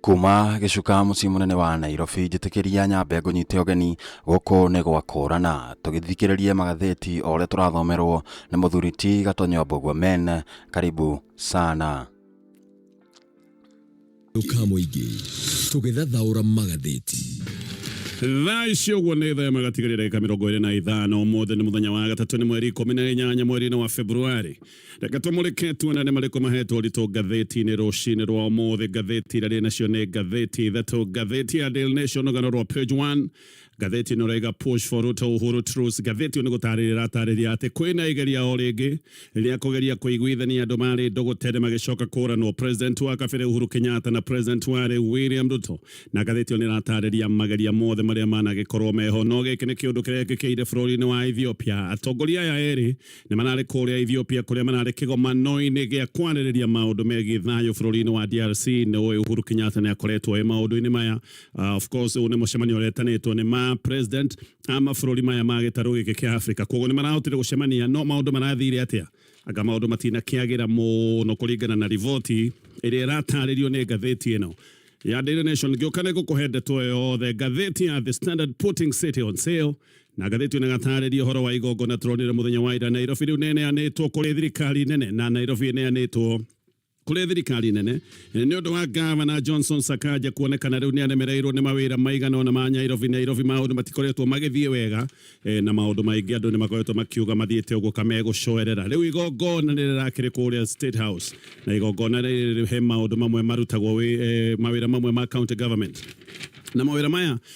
kuma gĩcuka mũciĩ mũnene wa nairobi njĩtĩkĩria nyambe ngũnyite ũgeni gũkũ nĩ gwa kũrana tũgĩthikĩrĩrie magathĩti o ũrĩa tũrathomerwo nĩ mũthuri ti gatonyo mbũguo men karibu sana ka mũingĩ tũgĩthathaũra magathĩti thaa ici ũguo nĩ thaa ĩmwe gatigarĩ ndagĩka mĩrongo ĩrĩ na ithano ũmũthĩ nĩ mũthenya wa gatatũ nĩ mweri ikũmi na inyanya mweri-inĩ wa februari reka tũmũrĩke tuona nĩ marĩkũ mahetwo ũritũ ngathĩti-inĩ rũcinĩ rwa ũmũthĩ ngathĩti iria rĩ nacio nĩ ngathĩti ithatũ ngathĩti ya Daily Nation rũgano rwa page 1 ngathĩti ĩno raiga push for Ruto Uhuru Truce ngathĩti ĩyo nĩ gũtarĩria ĩratarĩria atĩ kwĩna igeria o rĩngĩ rĩa kũgeria kũiguithania andũ marĩ ndũgũ tene magĩcoka kũranwo president wa kabere Uhuru Kenyatta na president wa rĩu William Ruto na ngathĩti ĩyo nĩ ĩratarĩria mageria mothe marĩa managĩkorwo meho no gĩkĩ nĩ kĩũndũ kĩrekĩkĩire bũrũri-inĩ wa Ethiopia atongoria aya erĩ Nĩ mararĩ kũrĩa Ethiopia kũrĩa mararĩ kĩgomano-inĩ gĩa kwarĩrĩria maũndũ megiĩ thayũ bũrũri-inĩ wa DRC. Nĩ ũĩ Uhuru Kenyatta nĩ akoretwo e maũndũ-inĩ maya. Uh, of course ũyũ nĩ mũcemanio ũretanĩtwo nĩ ma president a mabũrũri maya ma gĩtarũ gĩkĩ kĩa Africa, koguo nĩ marahotire gũcemania. No maũndũ marathire atĩa? Anga maũndũ matinakĩagĩra mũno kũringana na riboti ĩrĩa ĩratarĩrio nĩ ngathĩti ĩno ya Daily Nation. Ngĩũka nĩ ngũkũhe ndeto ĩyo yothe. Ngathĩti ya The Standard putting city on sale Na ngathĩti na gatarĩria ũhoro wa igongona tũronire mũthenya wa ira Nairobi rĩu nĩneanĩtwo kũrĩ thirikari nene na Nairobi ĩneanĩtwo kũrĩ thirikari nene eh, nĩ ũndũ wa gavana Johnson Sakaja kuonekana rĩu nĩaremereirwo nĩ mawĩra maigana ona ma Nairobi Nairobi maũndũ matikoretwo magĩthiĩ wega eh, na maũndũ maingĩ andũ nĩ makoretwo makiuga mathiĩte ũguo kamegũcoerera rĩu igongona nĩ rĩrakĩrĩ kũrĩa State House na igongona rĩrĩ he maũndũ mamwe marutagwo eh, mawĩra mamwe ma county government na mawĩra maya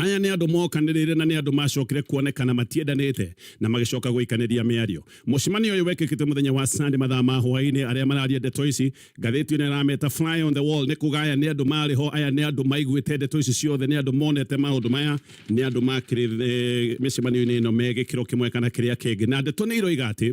Aya nĩ andũ mokanĩrĩire na nĩ andũ macokire kuonekana matiendanĩte na magĩcoka gũikanĩria mĩario. Mũcemanio ũyũ wekĩkĩte mũthenya wa Sunday mathaa ma hwaĩ-inĩ. Arĩa mararia ndeto ici, ngathĩti ĩno ĩrameta fly on the wall, nĩ kuga aya nĩ andũ marĩ ho, aya nĩ andũ maiguĩte ndeto ici ciothe, nĩ andũ monete maũndũ maya, nĩ andũ makĩrĩ eh, mĩcemanio-inĩ ĩno me gĩkĩro kĩmwe kana kĩrĩa kĩngĩ, na ndeto nĩ iroiga atĩ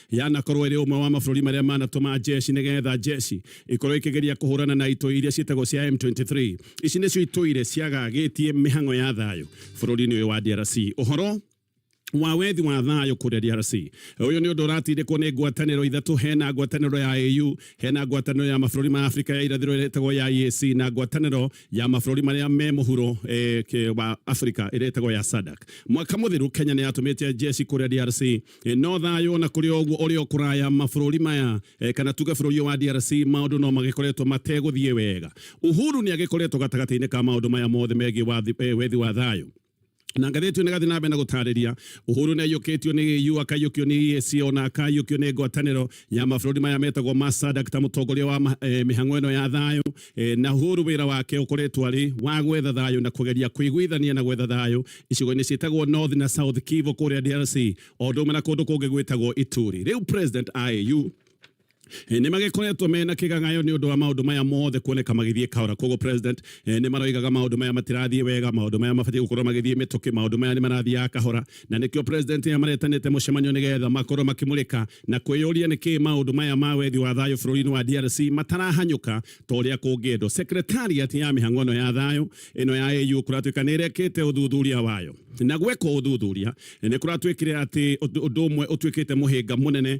yanakorwo ĩrĩ ũmwe wa mabũrũri marĩa manatũma njeci nĩgetha njeci ikorwo ikĩgeria kũhũrana na itũi iria ciĩtagwo cia M23 ici nĩcio itũire ciagagĩtie mĩhang'o ya thayũ bũrũri-inĩ ũyũ wa DRC ũhoro wa wethi wa thayũ kũrĩa DRC ũyũ nĩ ũndũ ũratindĩkwo nĩ ngwatanĩro ithatũ hena ngwatanĩro ya AU hena ngwatanĩro ya mabũrũri ma Afrika ya irathĩro ĩrĩa ĩtagwo ya EAC na ngwatanĩro ya mabũrũri marĩa me mũhuro eh, wa Afrika ĩrĩa ĩtagwo ya SADC mwaka mũthiru Kenya nĩ yatũmĩte njeci kũrĩa DRC E, no thayå na kå rä å guo å rä o kå raya mabå rä maya e, kana tuge bå rå ri wa DRC maå ndå no magä koretwo mategå thiä wega Uhuru nä agä koretwo gatagatä-inä ka maå ndå maya mothe megiä e, wethi wa thayå na ngathĩti ĩyo nĩgathiĩ na mbere na gũtarĩria Uhuru nĩaiyũkĩtio nĩ EU akaiyũkio nĩ EAC ona akaiyũkio nĩ ngwatanĩro ya mabũrũri maya metagwo ma SADC ta mũtongoria wa eh, mĩhang'o ĩno ya thayũ E, na huru wira wake ukoretwo ari wa gwetha thayo na kugeria kuiguithania na gwetha thayo icigo-ini ciitagwo North na South Kivu kuria DRC o ũndũ ũmwe na kundu kungi gwitagwo Ituri riu president AU e, nĩ magĩkoretwo mena kĩgagayo nĩ ũndũ wa maũndũ maya mothe kuoneka magĩthiĩ kahora koguo president e, nĩ maroigaga maũndũ maya matirathiĩ wega maũndũ maya mabatiĩ gũkorwo magĩthiĩ mĩtũkĩ maũndũ maya nĩ marathiaga kahora na nĩkĩo president nĩmaretanĩte mũcemanio nĩgetha makorwo makĩmũrĩka na kwĩyũria nĩkĩĩ maũndũ maya ma wethi wa thayũ bũrũri-inĩ wa DRC matarahanyũka ta ũrĩa kũngĩendwo. Secretariat ya mĩhang'o ĩno ya thayũ ĩno ya AU kũratuĩka nĩrekĩte ũthuthuria wayo na gweka ũthuthuria nĩkũratuĩkire atĩ ũndũ ũmwe ũtuĩkĩte mũhĩnga mũnene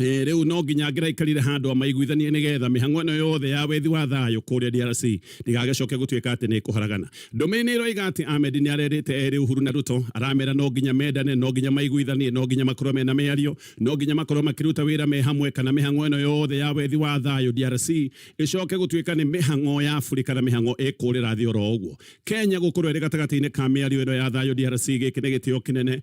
Eh, riu no nginya ngiraikarire handu amaiguithanie nigetha mihango ino yothe ya wethi wa thayo kuria DRC ndigagicoke gutuika ati ni kuharagana ndume ni roiga ati Ahmed ni arerite eri Uhuru na Ruto aramera no nginya mendane no nginya maiguithanie no nginya makorwo mena miario no nginya makorwo makiruta wira me hamwe kana mihango ino yothe ya wethi wa thayo DRC icoke gutuika ni mihango ya Afrika na mihango ikurira thi oro uguo Kenya gukorwo iri gatagati-ini ka miario ino ya thayo DRC giki ni gitio kinene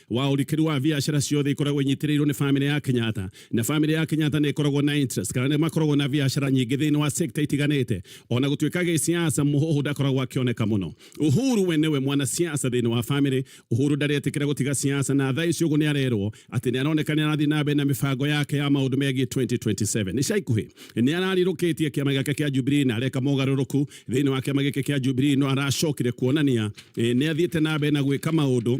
wa ũrikĩru wa biacara ciothe ikoragwo inyitĩrĩirwo nĩ famĩlĩ ya Kenyatta na famĩlĩ ya Kenyatta nĩ ĩkoragwo na interest kana nĩ makoragwo na biacara nyingĩ thĩinĩ wa sector itiganĩte ona gũtuĩka gĩsiasa mũhũhũ ndakoragwo akĩoneka mũno Uhuru we nĩwe mwana siasa thĩinĩ wa famĩlĩ Uhuru ndaretĩkĩra gũtiga siasa na thaa ici ũguo nĩ arerwo atĩ nĩ aroneka nĩ arathiĩ na mbere na mĩbango yake ya maũndũ megiĩ 2027 nĩ caikuhĩ nĩ ararirũkĩtie kĩama gĩake kĩa Jubilee na areka mogarũrũku thĩinĩ wa kĩama gĩkĩ kĩa Jubilee no aracokire kuonania eh, nĩ athiĩte na mbere na gwĩka maũndũ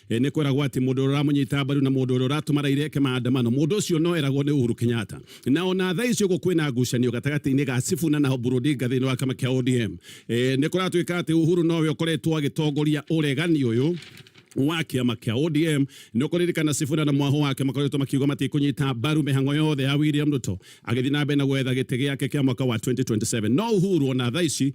E, nĩ kweragwo atĩ mũndũ ũrĩa ũramũnyita mbaru na mũndũ ũrĩa ũratũma raira eke maandamano mũndũ ũcio no eragwo nĩ Uhuru Kenyatta na ona thaa icio ũguo kwĩna ngucanio gatagatĩ-inĩ ga Sifuna na Oburu Odinga thĩinĩ wa kama kĩa ODM e, nĩ kũratuĩka atĩ Uhuru nowe ũkoretwo agĩtongoria ũregani ũyũ wa kĩama kĩa ODM nĩ ũkũririkana Sifuna na mwaho wake makoretwo makiuga matikũnyita mbaru mĩhango yothe ya William Ruto agĩthiĩ na mbere na gwetha gĩtĩ gĩake kĩa mwaka wa 2027 no Uhuru ona thaa ici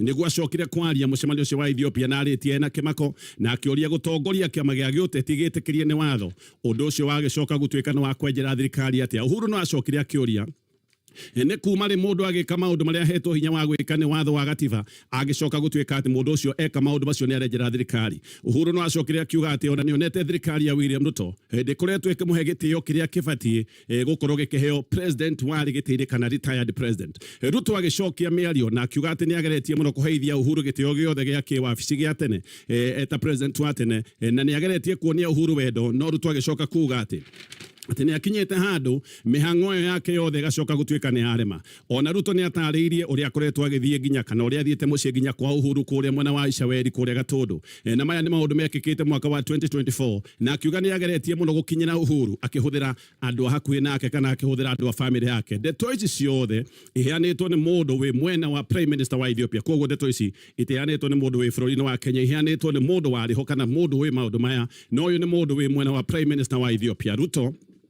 Nĩguo acokire kwaria mũcemanio ũcio wa Ethiopia na arĩtie ena kĩmako na akĩũria gũtongoria kĩama gĩa gĩũteti gĩtĩkĩrie nĩ watho. Ũndũ ũcio wagĩcoka gũtuĩka nĩ wa kwenjera thirikari atĩa? Uhuru no acokire akĩũria nĩ kuma rĩ mũndũ agĩka maũndũ marĩa ahetwo hinya wa gwĩka nĩ watho wa gatiba agĩcoka gũtuĩka atĩ mũndũ ũcio eka maũndũ macio nĩ arenjera thirikari. Uhuru no acokire akiuga atĩ ona nĩonete thirikari ya William Ruto ndĩkoretwo ĩkĩmũhe gĩtĩo kĩrĩa kĩbatiĩ e, gukorwo gikiheo president wari gitiri kana retired president ruto agicokia miario na akiuga ati ni ageretie muno kuheithia uhuru gitio giothe gia kiwabici gia tene e, eta president wa tene e, na ni ageretie kuonia uhuru wendo no ruto agicoka kuga ati atä nä akinyä te handå mä hang'o ä yo yake yothe ĩgacoka gå tuä ka nä yarema O na Ruto nĩ ataarĩirie ũrĩa akoretwo agĩthiĩ nginya kana ũrĩa athiĩte mũciĩ nginya kwa Uhuru kũrĩa mwena wa Icaweri kũrĩa Gatũndũ, na maya nĩ maũndũ mekĩkĩte mwaka wa 2024, na akiuga nĩ ageretie mũno gũkinyĩra Uhuru akĩhũthĩra andũ a hakuhĩ nake kana akĩhũthĩra andũ a famĩlĩ yake. Ndeto ici ciothe iheanĩtwo nĩ mũndũ wĩ mwena wa Prime Minister wa Ethiopia, kwoguo ndeto ici itiheanĩtwo nĩ mũndũ wĩ bũrũri-inĩ wa Kenya, iheanĩtwo nĩ mũndũ warĩ ho kana mũndũ ũĩ maũndũ maya, na ũyũ nĩ mũndũ wĩ mwena wa Prime Minister wa Ethiopia, Ruto.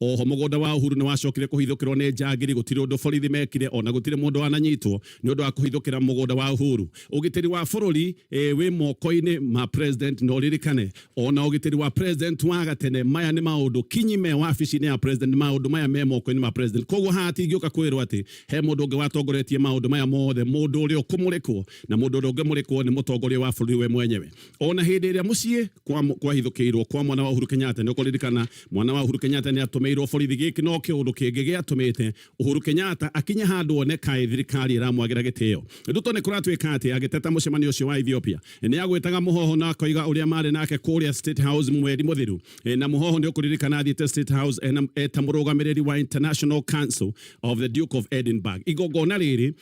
Oho mũgũnda wa Uhuru nĩ wacokire kũhithũkĩrwo nĩ njangiri, gũtirĩ ũndũ borithi mekire, ona gũtirĩ mũndũ wananyitwo nĩ ũndũ wa kũhithũkĩra mũgũnda wa Uhuru. Ũgitĩri wa bũrũri ĩĩ wĩ moko-inĩ ma President na ũririkane ona ũgitĩri wa President wa gatene, maya nĩ maũndũ kinyi me wabici-inĩ ya President, nĩ maũndũ maya me moko-inĩ ma President. Koguo haha hatingĩũka kwĩrwo atĩ he mũndũ ũngĩ watongoretie maũndũ maya mothe, mũndũ ũrĩa ũkũmũrĩkwo na mũndũ ũrĩa ũngĩmũrĩkwo nĩ mũtongoria wa bũrũri we mwenyewe. ona hindi iria mucii kwa kwahithukirwo kwa mwana wa Uhuru Kenyatta ni ukuririkana mwana wa Uhuru Kenyatta ni atumirwo borithi giki no kiundu kingi giatumite Uhuru Kenyatta akinya handu one kai thirikari iramwagira gitio nduto ni kuratuika ati agiteta mucemanio ucio wa Ethiopia ni agwitaga muhoho na akoiga uria mari nake kuria State House mweri muthiru e, na muhoho ni ukuririkana athiete State House e, eta murugamiriri wa International Council of the Duke of Edinburgh igongona riri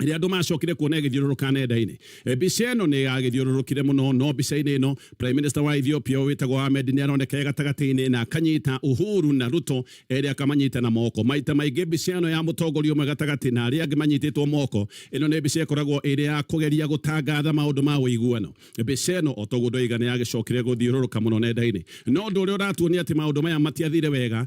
rä andå macokire kuona ĩgĩthiũrũrũka nenda-inĩ Eh, mbica ĩno nĩ yagĩthiũrũrũkire mũno no mbica-inĩ ĩno prime minister wa ethiopia ũyũ wĩtagwo ahmed nĩ aroneka e gatagatĩ-inĩ na akanyita uhuru na ruto erĩ akamanyita na moko maita maingĩ mbica ĩno ya mũtongoria ũmwe gatagatĩ na arĩa angĩ manyitĩtwo moko ĩno nĩ mbica ĩkoragwo ĩrĩ ya kũgeria gũtangatha maũndũ ma ũiguano mbica ĩno o toguo ndoiga nĩ yagĩcokire gũthiũrũrũka mũno nenda-inĩ no ũndũ ũrĩa ũratuonia atĩ maũndũ maya matiathire wega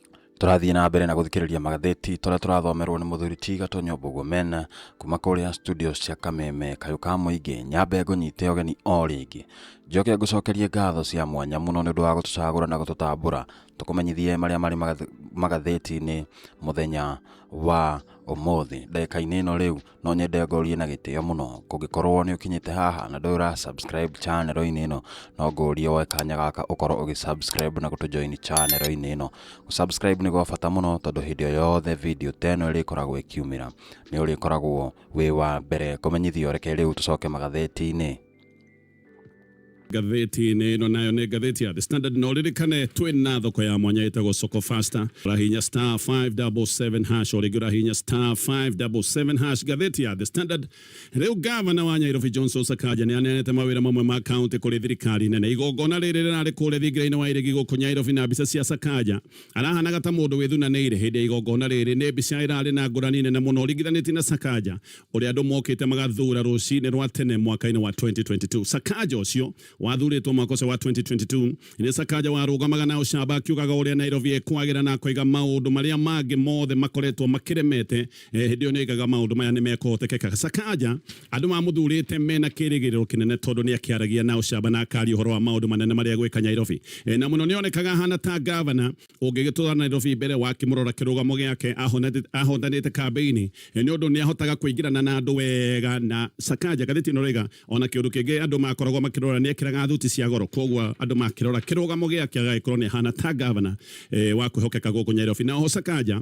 Tũrathiĩ na mbere na gũthikĩrĩria magathĩti tũrĩa tũrathomerwo nĩ mũthuri ti Gatonyo Mbũguo Mena kuma kũrĩa studio cia Kameme kayũ ka mũingĩ nyambe ngũnyite ũgeni o rĩngĩ njoke ngũcokerie ngatho cia mwanya mũno nĩ ũndũ wa gũtũcagũra na gũtũtambũra tũkũmenyithie marĩa marĩ magath- magathĩti-inĩ mũthenya wa ũmũthĩ ndagĩka-inĩ ĩno rĩu no nyende ngorie na gĩtĩo mũno kũngĩkorwo nĩ ũkinyĩte haha na ndũrĩ ũra subscribe channel-inĩ ĩno no ngorie woe kanya gaka ũkorwo ũgĩ subscribe na gũtũ join channel-inĩ ĩno subscribe nĩ gwa bata mũno tondũ hĩndĩ o yothe video ta ĩno ĩrĩkoragwo ĩkiumĩra nĩ ũrĩkoragwo wĩ wa mbere kũmenyithio reke rĩu tũcoke magatheti-inĩ ngathĩti-inĩ ĩno nayo nĩ ngathĩti ya The Standard na ũririkane twĩ na thoko ya mwanya ĩtagwo Soko Fasta ũrahinya star 577 hash o rĩngĩ ũrahinya star 577 hash ngathĩti ya The Standard rĩu gavana wa Nyairobi Johnson Sakaja nĩ aneanĩte mawĩra mamwe ma kaunti kũrĩ thirikari nene igongona rĩrĩ rĩrarĩ kũrĩa thingira-inĩ wa iregi gũkũ Nyairobi na mbica cia Sakaja arahanaga ta mũndũ wĩthunanĩire hĩndĩ ya igongona rĩrĩ nĩ mbica ĩrarĩ na ngũrani nene mũno ũringithanĩtie na Sakaja ũrĩa andũ mokĩte magathura rũcinĩ rwa tene mwaka-inĩ wa 2022 sakaja ũcio wathurĩtwo mwaka ũcio wa 2022 nĩ sakaja warũgamaga na ũcamba akiugaga ũrĩa nairobi ĩkwagĩra na akaiga maũndũ marĩa mangĩ mothe makoretwo makĩremete eh, hĩndĩ ĩyo nĩaigaga maũndũ maya nĩ mekũhotekeka sakaja andũ mamũthurĩte mena kĩrĩgĩrĩro kĩnene tondũ nĩ akĩaragia na ũcamba na akari ũhoro wa maũndũ manene marĩa gwĩka nyairobi Eh, na mũno nĩonekaga ahana ta gavana Ũngĩgĩtũũra Nairobi mbere wakĩmũrora kĩrũgamo gĩake ahondanĩte kambeini nĩ ũndũ nĩ ahotaga kũingĩrana na andũ wega na Sakaja. Ngathĩti ĩno ĩroiga ona kĩũndũ kĩngĩ andũ makoragwo makĩrora nĩ ekĩraga thuti cia goro kwoguo andũ makĩrora kĩrũgamo gĩake agagĩkorwo nĩ ahana ta ngavana wa kwĩhokeka gũkũ Nyairobi. Na oho Sakaja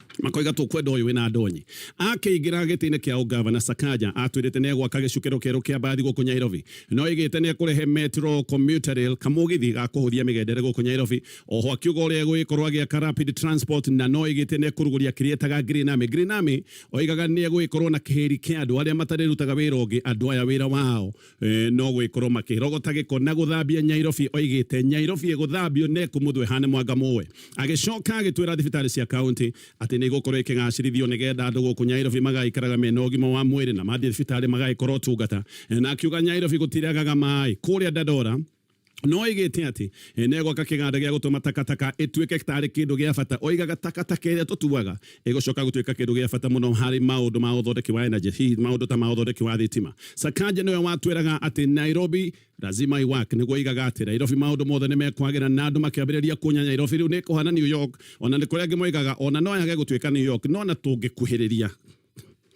makoiga tũkwenda ũyũ wĩna ndonyi akĩingĩra gĩtĩ-inĩ kĩa ũngavana Sakaja atwĩrĩte nĩ egwaka gĩcukĩro kĩerũ kĩa mbathi gũkũ Nyairobi no ĩgĩte nĩ ekũrehe metro commuter rail kamũgithi ga kũhũthia mĩgendere gũkũ Nyairobi oho akiuga ũrĩa egũgĩkorwo agĩaka rapid transport na no ĩgĩte nĩ ekũrugũria kĩrĩa etaga Green Army Green Army oigaga nĩ egũgĩkorwo na kĩhĩri kĩa andũ arĩa matarĩrutaga wĩra ũngĩ andũ aya wĩra wao eh, no gwikorwo makirogota giko na guthambia nyairobi oigite nyairobi iguthambio ne kumuthwe hane mwanga muwe agicoka agitwira thibitari cia kaunti ati ni gukorwo ikigacirithio ni getha andu guku nyairobi magaikaraga mena ugima wa mwiri na mathie thibitari magaikorwo tungata na akiuga nyairobi gutiragaga mai kuria dadora no oigĩte atĩ eh, nĩ egwaka kĩganda gĩa gũtũma takataka ĩtuĩke tarĩ kĩndũ gĩa bata oigaga takataka ĩrĩa tũtuaga ĩgũcoka gũtuĩka kĩndũ gĩa bata mũno harĩ maũndũ ma ũthondeki wa energy hihi maũndũ ta ma ũthondeki wa thitima sakanja nĩwe watwĩraga atĩ nairobi lazima iwak nĩguo oigaga atĩ nairobi maũndũ mothe nĩ mekwagĩra na andũ makĩambĩrĩria kuonya nairobi rĩu nĩ kũhana new york ona nĩ kũrĩa angĩ moigaga ona no yage gũtuĩka new york no na tũngĩkuhĩrĩria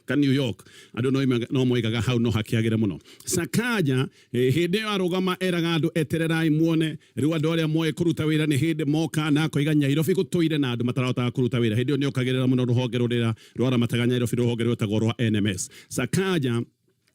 ka New York andå no moigaga hau no hakĩagĩre mũno Sakaja eh, hĩndĩ ĩyo arũgama eraga andũ etererai muone rĩu andũ arĩa moĩ kũruta wĩra nĩ hĩndĩ moka na akoiga Nyairobi gũtũire na andũ matarahotaga kũruta wĩra hĩndĩ ĩyo nĩokagĩrĩra mũno rũhonge rũrĩa rwaramataga Nyairobi rũhonge rwĩtagwo rwa NMS Sakaja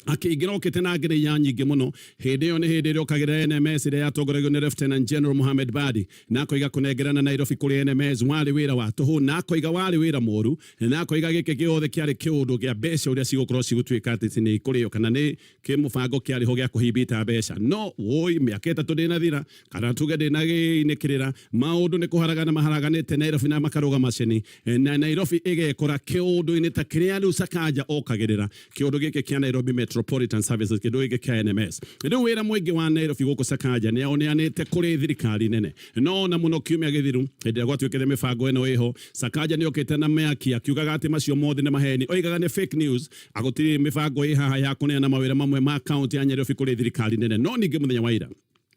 akĩingĩra okĩte na ngere ya nyingĩ mũno hĩndĩ ĩyo nĩ hĩndĩ ĩrĩa okagĩra NMS ĩrĩa yatongoragio nĩ Lieutenant General Mohamed Badi na akoiga kũnengerana Nairobi kũrĩ NMS warĩ wĩra wa tũhũ na akoiga warĩ wĩra mũru na akoiga gĩkĩ gĩothe kĩarĩ kĩũndũ gĩa mbeca ũrĩa cigũkorwo cigũtuĩka atĩ nĩ ikũrĩo kana nĩ kĩmũbango kĩarĩ ho gĩa kũhimbita mbeca no woi mĩaka ĩtatũ ndĩnathira kana tuge ndĩnagĩinĩkĩrĩra Maũndũ nĩ kũharagana maharaganĩte Nairobi na makarũga macini na Nairobi ĩgekora kĩũndũ-inĩ ta kĩrĩa rĩu Sakaja okagĩrĩra, kĩũndũ gĩkĩ kĩa Nairobi Metropolitan Services, kĩndũ gĩkĩ kĩa NMS. Rĩu wĩra mũingĩ wa Nairobi gũkũ Sakaja nĩ aũneanĩte kũrĩ thirikari nene. No o na mũno kiumia gĩthiru, hĩndĩ ĩrĩa gwatuĩkĩte mĩbango ĩno ĩho, Sakaja nĩ okĩte na mĩaki akiugaga atĩ macio mothe nĩ maheni. Oigaga nĩ fake news, gũtirĩ mĩbango ĩ haha ya kũneana mawĩra mamwe ma kaũntĩ ya Nyarirobi kũrĩ thirikari nene. No ningĩ mũthenya wa ira,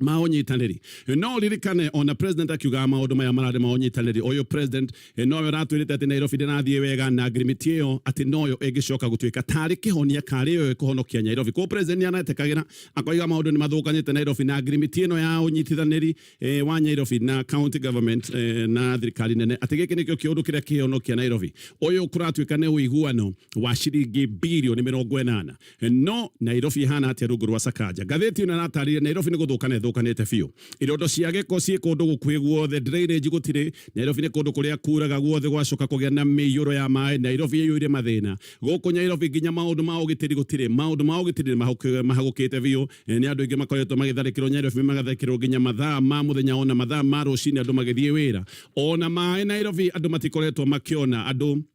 ma ũnyitanĩri no ririkane ona president akiugaga maũndũ maya mararĩ ma ũnyitanĩri ũyũ president eh, noyo ũratwĩrĩte atĩ Nairobi ndĩrathiĩ wega na agreement ĩyo atĩ noyo ĩngĩcoka gũtuĩka tarĩ kĩhonia karĩ yo ĩkũhonokia Nairobi koguo president nĩaretĩkagĩra akoiga maũndũ nĩmathũkanĩte Nairobi na agreement ĩno ya ũnyitithanĩri eh, wa Nairobi na county government eh, na thirikari nene atĩ gĩkĩ nĩkĩo kĩũndũ kĩrĩa kĩhonokia Nairobi ũyũ kũratuĩka nĩ ũiguano wa ciringi birioni mĩrongo ĩnana no Nairobi ihana atia rungu rwa Sakaja ngathĩti ĩno ĩratarĩria Nairobi nĩ gũthũkana ĩthũkanĩte biũ irondo cia gĩko ciĩ kũndũ gũkuhĩ guothe drainage gũtirĩ Nairobi nĩ kũndũ kũrĩa kuraga guothe gwacoka kũgĩa na mĩiyũro ya maĩ Nairobi ĩiyũire mathĩna gũkũ Nairobi nginya maũndũ ma ũgitĩri gũtirĩ maũndũ ma ũgitĩri nĩ mahagũkĩte biũ nĩ andũ aingĩ makoretwo magĩtharĩkĩrwo Nairobi magatharĩkĩrwo nginya mathaa ma mũthenya ona mathaa ma rũcinĩ andũ magĩthiĩ wĩra ona maĩ Nairobi andũ matikoretwo makĩona andũ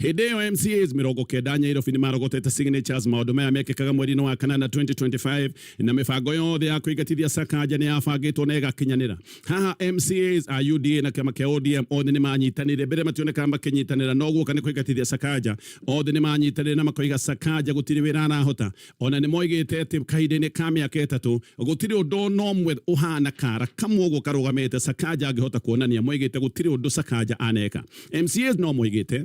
Hĩndĩ ĩyo MCAs mĩrongo kenda Nyairobi nĩ marogotete signatures maũndũ maya mekĩkaga mweri-inĩ wa kanana 2025 na mĩbango yothe ya kũingatithia Sakanja nĩ yabangĩtwo na ĩgakinyanĩra. Haha MCAs a UDA na kĩama kĩa ODM othe nĩ manyitanĩire, mbere mationekaga makĩnyitanĩra no guoka nĩ kũingatithia Sakanja. Othe nĩ manyitanĩire na makoiga Sakanja gũtirĩ wĩra arahota. O na nĩ moigĩte atĩ kahinda-inĩ ka mĩaka ĩtatũ, gũtirĩ ũndũ o na ũmwe ũhaana kaara kamwe ũguo karũgamĩte Sakaja angĩhota kuonania. Moigĩte gũtirĩ ũndũ Sakaja aneka. MCAs no moigĩte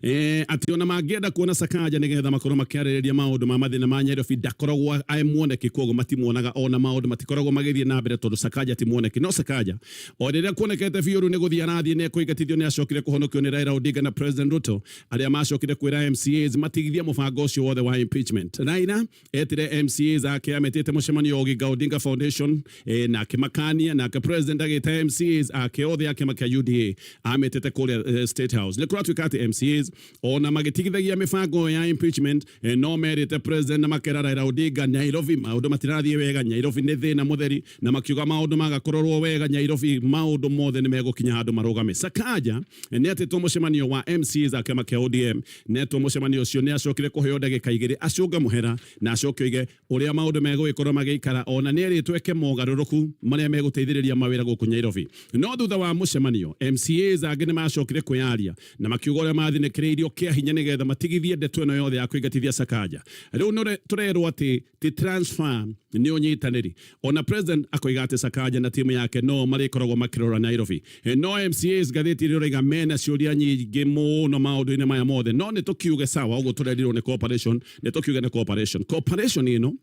Eh, ati ona mangĩenda kuona Sakaja nĩ getha makorwo makĩarĩrĩria maũndũ ma mathĩna ma Nyairobi ndakoragwo aĩ mwoneki koguo matimuonaga ona maũndũ matikoragwo magĩthiĩ na mbere tondũ Sakaja ti mwoneki no Sakaja o rĩrĩa kuonekete biũ rĩu nĩ gũthiĩ arathiĩ nĩ ekũingatithio nĩ acokire kũhonokio nĩ Raila Odinga na President Ruto Arĩa maacokire kwĩra MCAs matigithie mũbango ũcio wothe wa impeachment. Raila etire MCAs ake ametĩte mũcemanio wa Oginga Odinga Foundation eh, na akĩmakania nake president agĩta MCAs ake othe a kĩama kĩa UDA ametĩte kũrĩa eh, State House. Nĩ kũratuĩka atĩ MCAs ona magĩtigithagia mĩbango ĩyo ya impeachment eh, no merĩte president na makera Raila Odinga Nairobi maũndũ matirathiĩ wega Nairobi nĩ thĩna mũtheri Na makiuga maũndũ maga kũrorwo wega Nyairobi maũndũ mothe nĩ megũkinya handũ marũgame. Sakaja nĩ atĩtwo mũcemanio wa MCAs a kĩama kĩa ODM na etwo mũcemanio ũcio nĩ acokire kũheo ndagĩka igĩrĩ acũnge mũhera na acoke oige ũrĩa maũndũ megũgĩkorwo magĩikara ona nĩ erĩtwo eke mogarũrũku marĩa megũteithĩrĩria mawĩra gũkũ Nyairobi. No thutha wa mũcemanio, MCAs angĩ nĩ macokire kwĩyaria na makiuga ũrĩa mathinĩkĩrĩirio kĩa hinya nĩgetha matigithie ndeto ĩno yothe ya kũingatithia Sakaja. Rĩu nĩ tũrerwo atĩ ti transfer nä å nyitanä ona president akoiga atä sakanja na timu yake no marä koragwo makä rora nairobi e, no mcas ngathä ti rä raiga mena ciå ria nyingä må no maå ndå-inä maya mothe no nä tå kiuge sawa å guo tå rerirwo nä cooperation nä tå kiuge nä cooperation cooperation ä no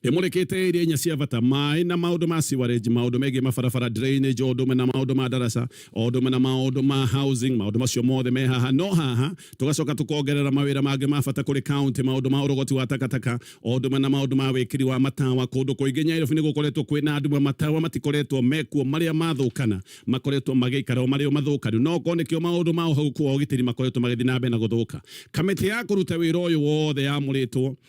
ĩmũrĩkĩte iria inya cia bata maĩ na maũndũ ma siwarage maũndũ megiĩ mabarabara drainage o ũndũ ũmwe na maũndũ ma ndaraca o ũndũ ũmwe na maũndũ ma housing, maũndũ macio mothe me haha. No haha tũgacoka tũkongerera mawĩra mangĩ ma bata kũrĩ kaunti, maũndũ ma ũrogoti wa takataka, o ũndũ ũmwe na maũndũ ma wĩkĩri wa matawa. Kũndũ kũingĩ Nyairobi nĩ gũkoretwo kwĩ na nduma, matawa matikoretwo mekuo, marĩa mathũkana makoretwo magĩikara o marĩ o mathũkanu, no okorwo nĩkĩo maũndũ ma ũhagũku wa ũgitĩri makoretwo magĩthiĩ na mbere na gũthũka. Kamĩtĩ ya kũruta wĩra ũyũ wothe yamũrĩtwo,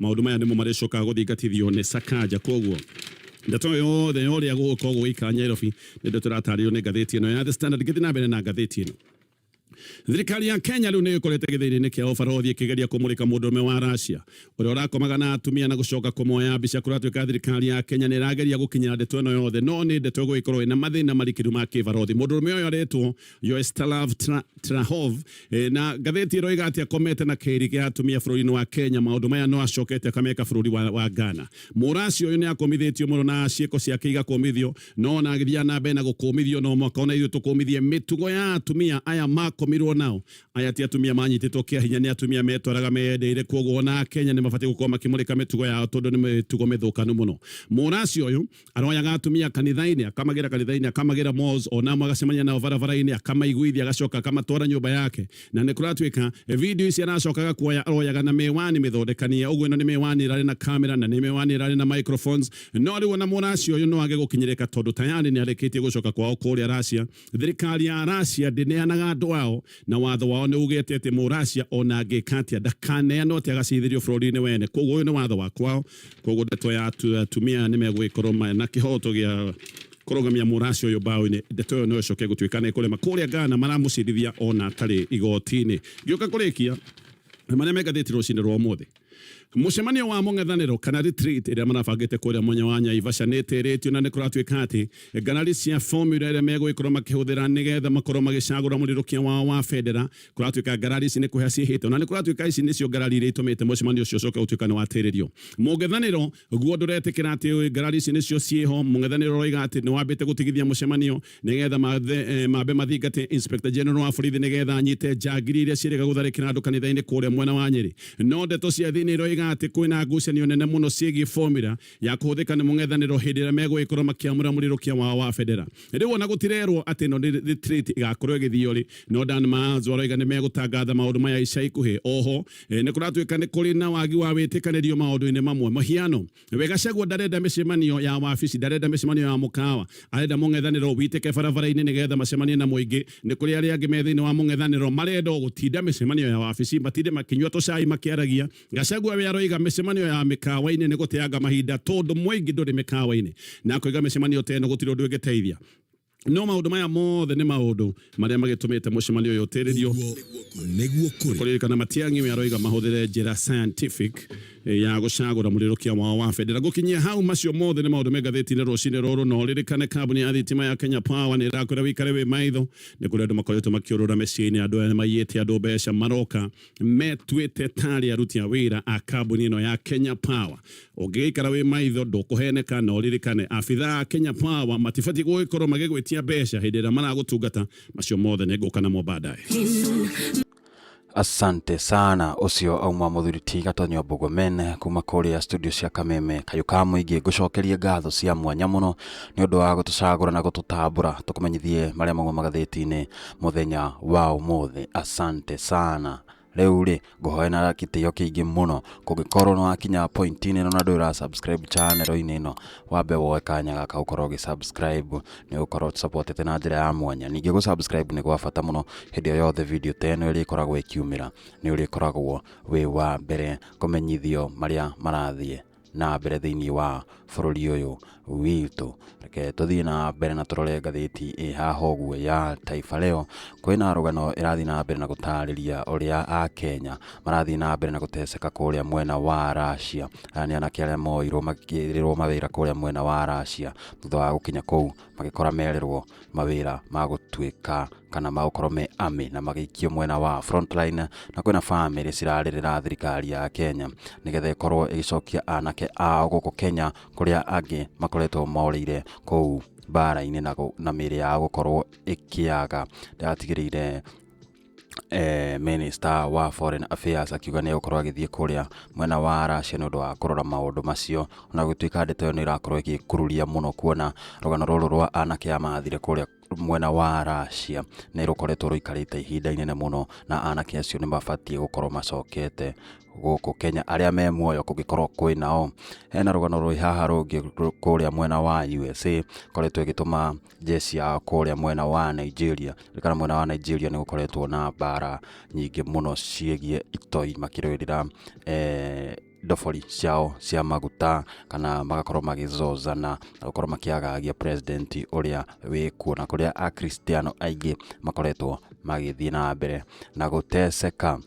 Maũndũ maya nĩmo marĩcokaga gũthingatithio nĩ Sakaja. Kwoguo, ndeto yothe ya ũrĩa gũgũkorwo gũgĩikara Nyairobi nĩ ndeto ĩratarĩrio nĩ ngathĩti ĩno ya The Standard. Ngĩthiĩ na mbere na ngathĩti ĩno, Thirikari ya Kenya rĩu nĩ ĩkorete gĩthĩni-inĩ kĩa ũbarothi ĩkĩgeria kũmũrĩka mũndũrũme wa Russia ũrĩa ũrakomaga na atumia na gũcoka kũmoya mbica. Kũratuĩka thirikari ya Kenya nĩ ĩrageria gũkinyĩra ndeto ĩno yothe, no nĩ ndeto ĩgũgĩkorwo ĩna mathĩna marikĩru ma kĩbarothi. Mũndũrũme ũyũ aretwo Yoestalav Tra- Trahov eh, na ngathĩti ĩno ĩga atĩ akomete na kĩri kĩa atumia bũrũri-inĩ wa Kenya maũndũ maya no acokete akameka bũrũri wa, wa Ghana mũraci ũyũ nĩ akomithĩtio mũno na ciĩko ciake igakomithio no ona agĩthiaga na mbere na gũkũmithio no mwaka ona ithuĩ tũkũmithie mĩtugo ya atumia aya makomirwo nao aya ti atumia manyitĩtwo kĩa hinya nĩ atumia metwaraga meyendeire kwoguo ona Kenya nĩ mabatiĩ gũkorwo makĩmũrĩka mĩtugo yao tondũ nĩ mĩtugo mĩthũkanu mũno mũraci ũyũ aroyaga atumia kanitha-inĩ akamagĩra kanitha-inĩ akamagĩra malls onamo agacemania nao barabara-inĩ akamaiguithia agacoka akamatwara nyũmba yake na nĩ kũratuĩka video ici aracokaga kuoya aroyaga na mĩwani mĩthondekanie ũguo ĩno nĩ mĩwani ĩrarĩ na kamera na nĩ mĩwani ĩrarĩ na microphones no rĩu ona mũracia ũyũ no age gũkinyĩrĩka tondũ tayarĩ nĩ arĩkĩtie gũcoka kwao kũrĩa racia thirikari ya racia ndĩneanaga andũ ao na watho wao nĩ ugĩte atĩ mũracia ona angĩka atĩa ndakaneanwo atĩ agaciithĩrio bũrũri-inĩ wene koguo ũyũ nĩ watho wa kwao koguo ndeto ya atumia nä megågäkorwo na kä hoto gä a kårũgamia mũraci ũyũ mbaũ-inĩ ndeto ĩyo no ĩcoke gũtuĩka nĩ kũrema kũrĩa Ghana maramũcirithia ona atarĩ igoti-inĩ ngĩũka kũrĩkia marĩa me ngathĩti rũcinĩ rwa ũmũthĩ Mũcemanio wa mũng'ethanĩro kana retreat ĩrĩa marabangĩte kũrĩa mwanya wa Nyaivaca nĩ ĩtĩrĩtio na nĩ kũratuĩka atĩ ngarari cia formula ĩrĩa megũgĩkorwo makĩhũthĩra nĩgetha makorwo magĩcagũra mũrirũkia wao wa bendera Kũratuĩka ngarari ici nĩ kũhĩa ciĩhĩte, ona nĩ kũratuĩka ici nĩcio ngarari iria itũmĩte mũcemanio ũcio ũcoke gũtuĩka nĩ watĩrĩrio. Mũng'ethanĩro guo ndũretĩkĩra atĩ ngarari ici nĩcio ciĩho. Mũng'ethanĩro ũroiga atĩ nĩ wambĩte gũtigithia mũcemanio nĩgetha mambe mathingate Inspector General wa borithi nĩgetha anyite njangiri iria ciĩrĩga gũtharĩkĩra andũ kanitha-inĩ kũrĩa mwena wa Nyeri. No ndeto cia thĩiniĩ iroiga atĩ kwĩna ngucanio nene mũno ciĩgiĩ formula ya kũhũthĩka nĩ mũng'ethanĩro hĩndĩ ĩrĩa megũgĩkorwo makĩamũra mũrirũkia wao wa bendera. Rĩu ona gũtirerwo atĩ ĩno nĩ retreat ĩgakorwo ĩgĩthio rĩ, no Dan Mars aroiga nĩ megũtangatha maũndũ maya ica ikuhĩ. Oho eh, nĩ kũratuĩka nĩ kũrĩ na wagi wa wĩtĩkanĩrio maũndũ-inĩ mamwe. Mũhiano, we Gachagua ndarenda mĩcemanio ya wabici, ndarenda mĩcemanio ya mũkawa, arenda mũng'ethanĩro witĩke barabara-inĩ nĩgetha macemanie na mũingĩ. Nĩ kũrĩ arĩa angĩ me thĩinĩ wa mũng'ethanĩro marenda o gũtinda mĩcemanio ya wabici, matinde makĩnyua tũcai makĩaragia Gachagua we aroiga micemanio ya mikawa-inĩ nĩ gũteanga mahinda tondũ mũingĩ ndũrĩ mĩkawa-inĩ na akoiga mĩcemanio ta ĩno gũtirĩ ũndũ ĩngĩteithia no maũndũ maya mothe nĩ maũndũ marĩa magĩtũmĩte mũcemanio ũyũ ũtĩrĩrio kũririkana Matiang'i we aroiga mahũthĩre njĩra scientific eh, ya gũcagũra mũrirũkia wao wa bendera gũkinyia hau macio mothe nĩ maũndũ me ngathĩti-inĩ rũcinĩ rũrũ na ũririkane kambuni ya thitima ya Kenya Power nĩ ĩrakwĩra wĩikare wĩ maitho nĩ kũrĩ andũ makoretwo makĩũrũra mĩciĩ-inĩ andũ aya nĩ maiyĩte andũ mbeca maroka metuĩte tarĩ aruti a wĩra a kambuni ĩno ya Kenya Power ũngĩgĩikara wĩ maitho ndũkũheneka na ũririkane abitha a Kenya Power matibatiĩ gũgĩkorwo magĩgwĩtia mbeca hĩndĩ ĩrĩa maragũtungata macio mothe nĩ ngũka namo baadaye asante sana ũcio auma mũthuri ti gatonyo mbugumen kuma kũrĩa studio cia kameme kayũ ka mũingĩ ngũcokerie ngatho cia mwanya mũno nĩ ũndũ wa gũtũcagũra na gũtũtambũra tũkũmenyithie marĩa mauma magathĩti-inĩ mũthenya wa ũmũthĩ. Asante sana. Rĩu rĩ, ngũhoya na gĩtĩo kĩingĩ mũno, kũngĩkorwo nĩ wakinya point-inĩ ĩno na ndũrĩ ũra subscribe channel-inĩ ĩno, wambe woe kanya gaka ũkorwo ũgĩ subscribe, nĩ ũgũkorwo ũtũsapotete na njĩra ya mwanya. Ningĩ gũ subscribe nĩ gwa bata mũno, hĩndĩ o yothe video ta ĩno ĩrĩkoragwo ĩkiumĩra, nĩ ũrĩkoragwo wĩ wa mbere kũmenyithio marĩa marathiĩ na mbere thĩinĩ wa bũrũri ũyũ witũ reke tũthiĩ na mbere na tũrore ngathĩti ĩ haha ũguo ya Taifa Leo kwĩna rũgano ĩrathiĩ na mbere na gũtarĩria ũrĩa a Kenya marathiĩ na mbere na gũteceka kũrĩa mwena wa Russia aya nĩ anake arĩa moirwo makĩrĩrwo mawĩra kũrĩa mwena wa Russia thutha wa gũkinya kũu magĩkora merĩrwo mawĩra ma gũtuĩka kana magũkorwo me army na magĩikio mwena wa frontline na kwĩna bamĩrĩ cirarĩrĩra thirikari ya Kenya nĩgetha ĩkorwo ĩgĩcokia anake ao gũkũ Kenya kũrĩa angĩ makoretwo morĩire kũu mbara-inĩ na, gũ- na mĩĩrĩ yao gũkorwo ĩkĩaga ndatigĩrĩire Minister wa Foreign Affairs akiuga nĩ egũkorwo agĩthiĩ kũrĩa mwena wa Russia nĩ ũndũ wa kũrora maũndũ macio, ona gũtuĩka ndeto ĩyo nĩ ĩrakorwo ĩgĩkururia mũno kuona rũgano rũrũ rwa anake aya marathire kũrĩa mwena wa Russia nĩ rũkoretwo rũikarĩte ihinda inene mũno, na anake acio nĩ mabatiĩ gũkorwo macokete gũkũ Kenya, arĩa me muoyo kũngĩkorwo kwĩ nao. Hena rũgano rwĩ haha rũngĩ kũrĩa mwena wa USA, ĩkoretwo ĩgĩtũma njeci ya kũrĩa mwena wa Nigeria kana mwena wa Nigeria nĩ gũkoretwo na mbara nyingĩ mũno ciĩgiĩ itoi makĩrũĩrĩra eh, ndobori ciao cia maguta kana magakorwo magĩzozana na gũkorwo makĩagagia president ũrĩa wĩ kuo na kũrĩa akristiano aingĩ makoretwo magĩthiĩ na mbere na gũteceka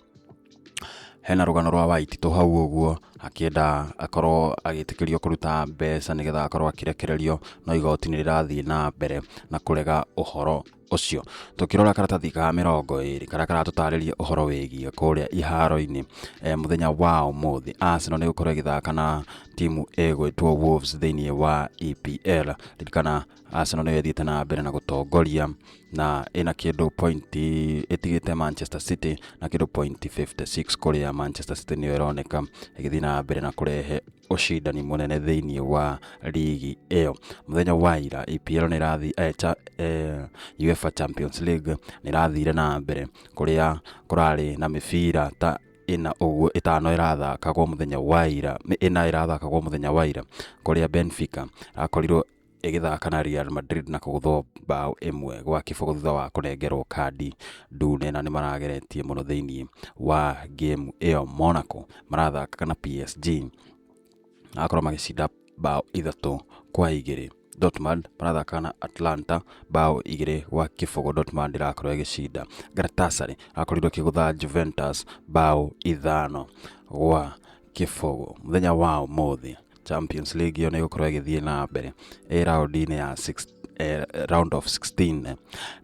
Hena rũgano rwa Waititũ hau ũguo akĩenda akorwo agĩtĩkĩrio kũruta mbeca nĩgetha akorwo akĩrekererio no igoti nĩ rĩrathiĩ na mbere na kũrega ũhoro ũcio. Tũkĩrora karatathi ka mĩrongo ĩrĩ karĩa karatũtarĩria ũhoro wĩgiĩ kũrĩa iharo-inĩ e, mũthenya wa ũmũthĩ Arsenal nĩ gũkorwo ĩgĩthaka na timu ĩgwĩtwo Wolves thĩinĩ wa EPL. Ririkana Arsenal nĩyo ĩthiĩte na mbere na gũtongoria na ĩna kĩndũ point ĩtigĩte Manchester City na kĩndũ point 56 kũrĩa Manchester City nĩyo ĩroneka ĩgĩthiĩ na mbere na kũrehe ũcindani mũnene thĩinĩ wa ligi ĩyo mũthenya wa ira EPL nĩ ĩrathiĩ eh, cha, eh, UEFA Champions League nĩ ĩrathire na mbere kũrĩa kũrarĩ na mĩbira ta ĩna ũguo ĩtano ĩrathakagwo mũthenya wa ira nĩ ĩna ĩrathakagwo mũthenya wa ira kũrĩa Benfica ĩrakorirwo ĩgĩthaka na Real Madrid na kũgũthwo mbaũ ĩmwe gwa kĩbũgũ thutha wa kũnengerwo kandi ndune na nĩ marageretie mũno thĩinĩ wa game ĩyo Monaco marathaka na PSG akorwo magĩcinda mbaũ ithatũ kwa igĩrĩ Dortmund marathaka na Atlanta mbaũ igĩrĩ gwa kĩbũgũ Dortmund ĩrakorwo ĩgĩcinda Galatasaray akorirwo kĩgũtha Juventus mbaũ ithano gwa kĩbogo mũthenya wa ũmũthĩ champions league ĩyo nĩ ĩgũkorwo ĩgĩthiĩ na mbere ĩ raũndi-inĩ ya six, eh, round of 16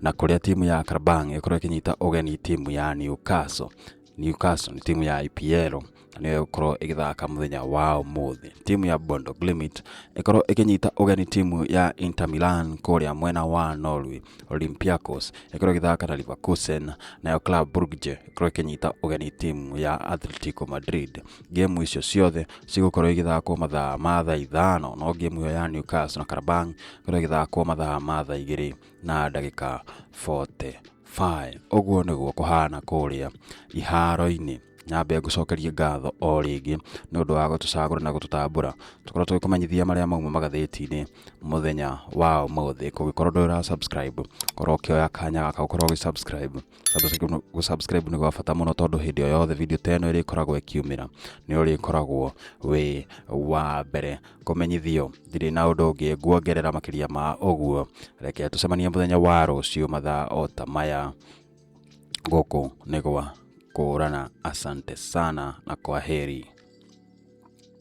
na kũrĩa timu ya karabang ĩgũkorwo ĩkĩnyita ũgeni timu ya newcastle newcastle nĩ timu ya ipl na nĩyo ĩgũkorwo ĩgĩthaka mũthenya wa ũmũthĩ timu ya bondo glimit ĩkorwo ĩkĩnyita ũgeni timu ya inter milan kũrĩa mwena wa norway olympiacos ĩkorwo ĩgĩthaka na leverkusen nayo club brugge ĩkorwo ĩkĩnyita ũgeni timu ya Atletico Madrid ngemu icio ciothe cigũkorwo igĩthakwo mathaa ma thaa ithano no ngemu ĩyo ya Newcastle na Karabang ĩkorwo ĩgĩthakwo mathaa ma thaa igĩrĩ na ndagĩka 45 ũguo nĩguo kũhana kũrĩa iharo-inĩ nyambe ngũcokerie ngatho o rĩngĩ nĩ ũndũ wa gũtũcagũra na gũtũtambũra tũkorwo tũgĩ kũmenyithia marĩa mauma magathĩti-inĩ mũthenya wa ũmũthĩ kũngĩkorwo ndũrĩ ũra subscribe korwo ũkĩoya kanya gaka ũkorwo ũgĩ subscribe gũsubscribe nĩ gwa bata mũno tondũ hĩndĩ o yothe video ta ĩno ĩrĩkoragwo ĩkiumĩra nĩ ũrĩkoragwo wĩ wa mbere kũmenyithio ndirĩ na ũndũ ũngĩ nguongerera makĩria ma ũguo reke tũcemanie mũthenya wa rũciũ mathaa o ta maya gũkũ nĩ gwa kũrana asante sana na kwa heri